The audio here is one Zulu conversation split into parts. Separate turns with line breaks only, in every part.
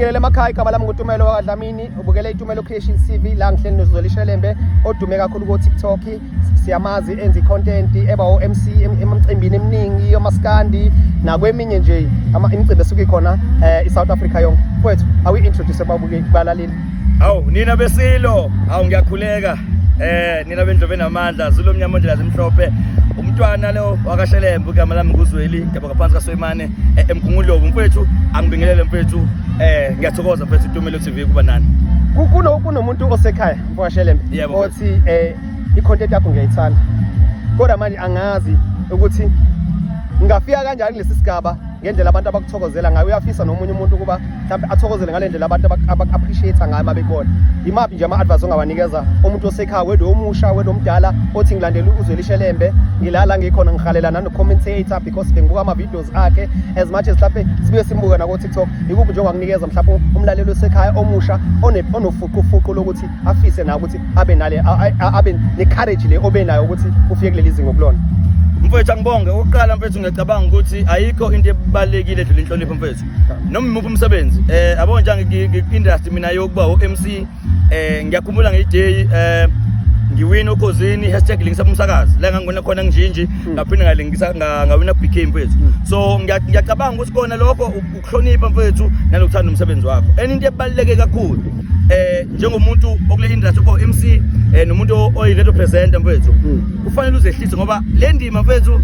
Ngibukele emakhaya igama lami nguTumelo wakwaDlamini ubukele iTumelo Creation TV la ngihleli noZolishelembe odume kakhulu ko TikTok siyamazi enzi content eba o MC emcimbini eminingi yomaskandi nakweminye nje ama imicimbi esuke khona eh i South Africa yonke kwethu awu introduce babuke balaleli awu nina
besilo awu ngiyakhuleka eh nina bendlobe namandla zulomnyama ondlela zimhlophe umntwana lo wakashelembe ugama lami nguzweli ngiyabonga phansi kasoyimane eh, emgungundlovu mfethu angibingelele mfethu eh ngiyathokoza mfethu itumelo tv kuba nani kuno kunomuntu
osekhaya mfowasheleme Yebo, othi eh i-content yakho ngiyayithanda kodwa manje angazi ukuthi ngingafika kanjani kulesi sigaba ngendlela abantu abakuthokozela ngayo uyafisa nomunye umuntu ukuba mhlawumbe athokozele ngale ndlela abantu abaku-appreciate ngayo uma bekubona yimaphi nje ama-advice ongawanikeza umuntu osekhaya wedwe omusha wedwe omdala othi ngilandela uzwelishelembe ngilala ngikhona ngihalelana no-commentator because bengibuka ama-videos akhe as much as mhlawumbe sibuye simbuke nako-tiktok yikuphi nje ongakunikeza mhlawumbe umlaleli osekhaya omusha onofuqufuqu lokuthi afise nayo ukuthi abe nale abe ne-courage le obe nayo ukuthi ufike kuleli zingo kulona mfethu angibonge
okokuqala mfethu ngiyacabanga ukuthi ayikho into ebalulekile edlula inhlonipho mfethu noma imuphi umsebenzi eh abona nje ngi-industry mina yokuba o-MC eh ngiyakhumbula ngiyiday eh ngiwina okhozini hashtag lingisa umsakazi la ngangona khona nginjinji hmm. ngaphinde ngalingisa ngawina BK mfethu hmm. so ngiyacabanga ukuthi kona lokho ukuhlonipha mfethu nalokuthanda umsebenzi wakho enye into ebaluleke kakhulu eh njengomuntu okule industry ko MC eh nomuntu oyi radio presenter mfethu hmm. kufanele uzehlise ngoba le ndima mfethu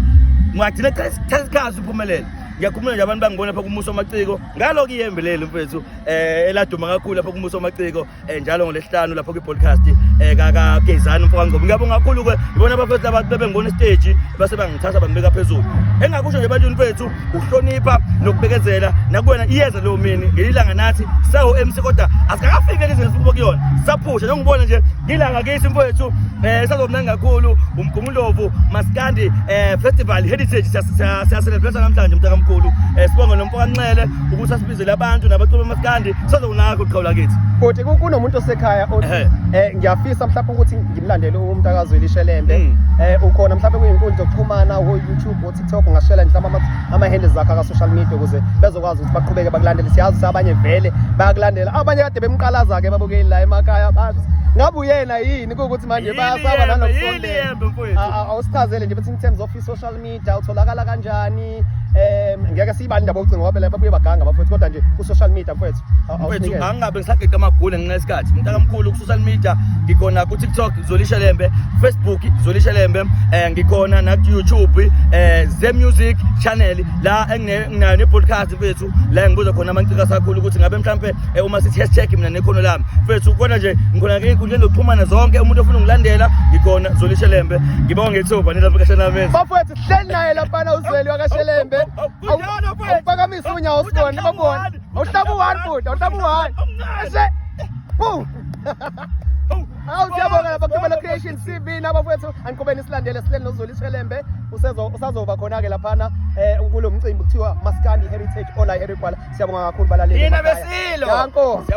ngagcina cha isikhathi uphumelele ngiyakhumula nje abantu bangibona lapha kumuso amaciko ngalo kuyembe leli mfethu um eh, eladuma kakhulu lapha kumuso amaciko um eh, njalo ngolesihlanu lapho kwi-podcast um eh, kakagezani mfo kangcobo ngiyabonga kakhulu-ke ibona abafethu laba bebengibona isiteji base bangithatha bangibeka phezulu engingakusho nje ebantwini fethu ukuhlonipha nokubekezela nakuwena iyeza leyo mini ngelilanga nathi sawo-m c kodwa asikakafiki elizweni sikubo kuyona saphusha njengibona nje ngilanga kithi mfowethu um sazomnani kakhulu Umgungundlovu Maskandi eh Festival Heritage siyaselebrate namhlanje mntakamkhulu eh sibonga nomfo kaNxele ukuthi asibizele abantu nabaculi bamaskandi sazonaka uqhawula kithi kodwa ke kunomuntu
osekhaya othi eh, eh ngiyafisa mhlawumbe ukuthi ngimlandele umntakazi welishelembe mm. eh ukhona mhlawumbe kuyinkundla yokuxhumana wo YouTube wo TikTok ngashela mhlawumbe ama handles zakhe ka social media ukuze bezokwazi ukuthi baqhubeke bakulandele siyazi abanye vele bayakulandela abanye kade bemqalaza ke babukeli la emakhaya bathi ngabe uyena yini Yikho ukuthi manje bayasaba nanokusondela. Awusichazele nje bethi in terms of social media utholakala kanjani? Eh ngeke siyibani indaba yokucinga ngoba lapha buye baganga bafethu kodwa nje ku social media mfethu. Mfethu angabe
ngisagega amagule ngenxa yesikhathi. Umntaka mkhulu ku social media ngikhona ku TikTok Zolisha Lembe, Facebook Zolisha Lembe, eh ngikhona na YouTube eh Ze Music channel la enginayo ne podcast mfethu. la engibuza khona amancika asakhulu ukuthi ngabe mhlampe eh, uma sithi hashtag mina nekhono lami mfethu khona nje ngikhona ke inkundleni zokuxhumana zonke umuntu ofuna ungilandela ngikhona zolishelembe ngibonga ngethuba nina bukashanamenzi bafethu sihleli naye
laphana uzweli wakashelembe awuphakamise unyawo sibone babone awuhlaba u-one futhi awuhlaba u-one ese boom Awu siyabonga lapha kuThobela Creation TV nabafowethu aniqhubeni silandele sihleli noZulu Ishelembe usezo usazoba khona ke laphana eh kulo mcimbi kuthiwa Maskandi Heritage Ola Herikwala siyabonga kakhulu balaleli. Yina
besilo.
Danko.